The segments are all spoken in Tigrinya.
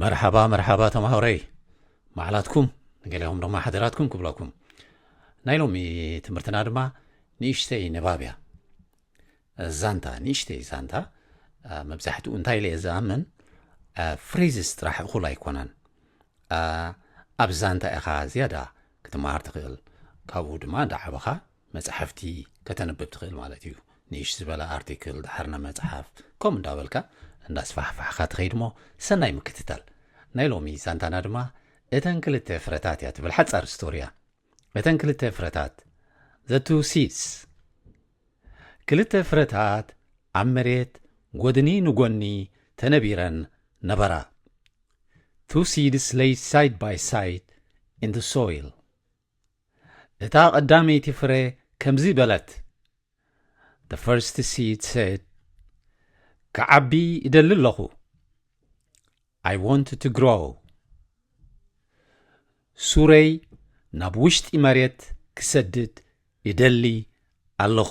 መርሓባ መርሓባ ተማሃሮይ ባዕላትኩም ንገሊኦም ድማ ሓደራትኩም ክብለኩም ናይ ሎሚ ትምህርትና ድማ ንእሽተይ ንባብ እያ ዛንታ ንእሽተይ ዛንታ መብዛሕትኡ እንታይ ኢለ ዝኣምን ፍሬዝስ ጥራሕ እኹል ኣይኮነን ኣብ ዛንታ ኢኻ ዝያዳ ክትመሃር ትኽእል ካብኡ ድማ እንዳዓበኻ መጻሕፍቲ ከተንብብ ትኽእል ማለት እዩ። ንእሽ ዝበለ ኣርቲክል ድሓር ናብ መጽሓፍ ከምኡ እንዳበልካ እንዳስፋሕፋሕኻ ትኸይድሞ ሰናይ ምክትታል። ናይ ሎሚ ዛንታና ድማ እተን ክልተ ፍረታት እያ ትብል ሓጻር ስቶሪ እያ። እተን ክልተ ፍረታት the two seeds ክልተ ፍረታት ኣብ መሬት ጎድኒ ንጎኒ ተነቢረን ነበራ። Two seeds lay side by side in the soil. እታ ቐዳመይቲ ፍረ ከምዚ በለት፣ The first seed said, ክዓቢ እደሊ ኣለኹ፣ I want to grow። ሱረይ ናብ ውሽጢ መሬት ክሰድድ እደሊ ኣለኹ።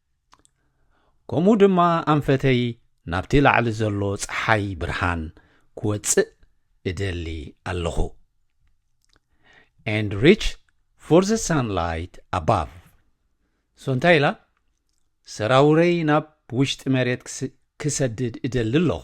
ከምኡ ድማ ኣንፈተይ ናብቲ ላዕሊ ዘሎ ፀሓይ ብርሃን ክወፅእ እደሊ ኣለኹ and reach for the sunlight above so እንታይ ኢላ ሰራውረይ ናብ ውሽጢ መሬት ክሰድድ እደሊ ኣለኹ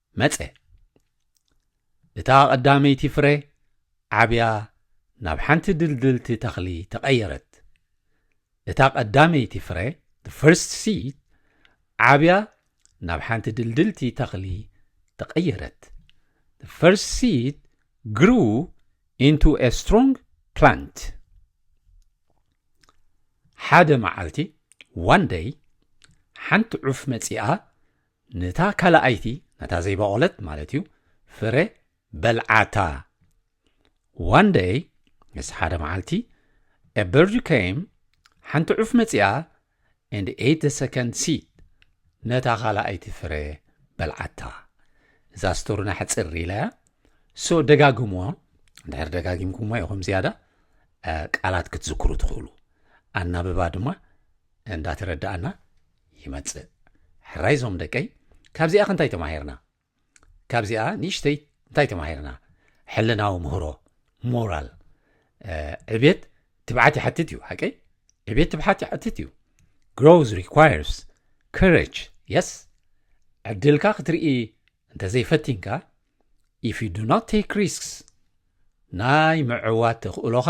መጸ። እታ ቐዳመይቲ ፍረ ዓብያ ናብ ሓንቲ ድልድልቲ ተኽሊ ተቐየረት። እታ ቐዳመይቲ ፍረ፣ the first seed፣ ዓብያ ናብ ሓንቲ ድልድልቲ ተኽሊ ተቐየረት። The first seed grew into a strong plant. ሓደ መዓልቲ one day ሓንቲ ዑፍ መጺኣ ነታ ካልኣይቲ ነታ ዘይበቖለት ማለት እዩ ፍረ በልዓታ one day ምስ ሓደ መዓልቲ a bird came ሓንቲ ዑፍ መጺኣ and ate the second seed ነታ ካልኣይቲ ፍረ በልዓታ እዛ ስቶርና ሕፅር ኢላ እያ ሶ ደጋግምዎ እንድሕር ደጋጊምኩሞ ኢኹም ዝያዳ ቃላት ክትዝክሩ ትኽእሉ ኣናብባ ድማ እንዳተረዳእና ይመጽእ ሕራይ ዞም ደቀይ ካብዚኣ ክንታይ ተማሂርና ካብዚኣ ንእሽተይ እንታይ ተማሂርና ሕልናዊ ምህሮ ሞራል ዕቤት ትብዓት ይሓትት እዩ ሓቀይ ዕቤት ትብሓት ይሓትት እዩ ግሮዝ ሪኳርስ ከረጅ የስ ዕድልካ ክትርኢ እንተዘይፈቲንካ ኢፍ ዩ ዱ ኖት ቴክ ሪስክስ ናይ ምዕዋት ተኽእሎኻ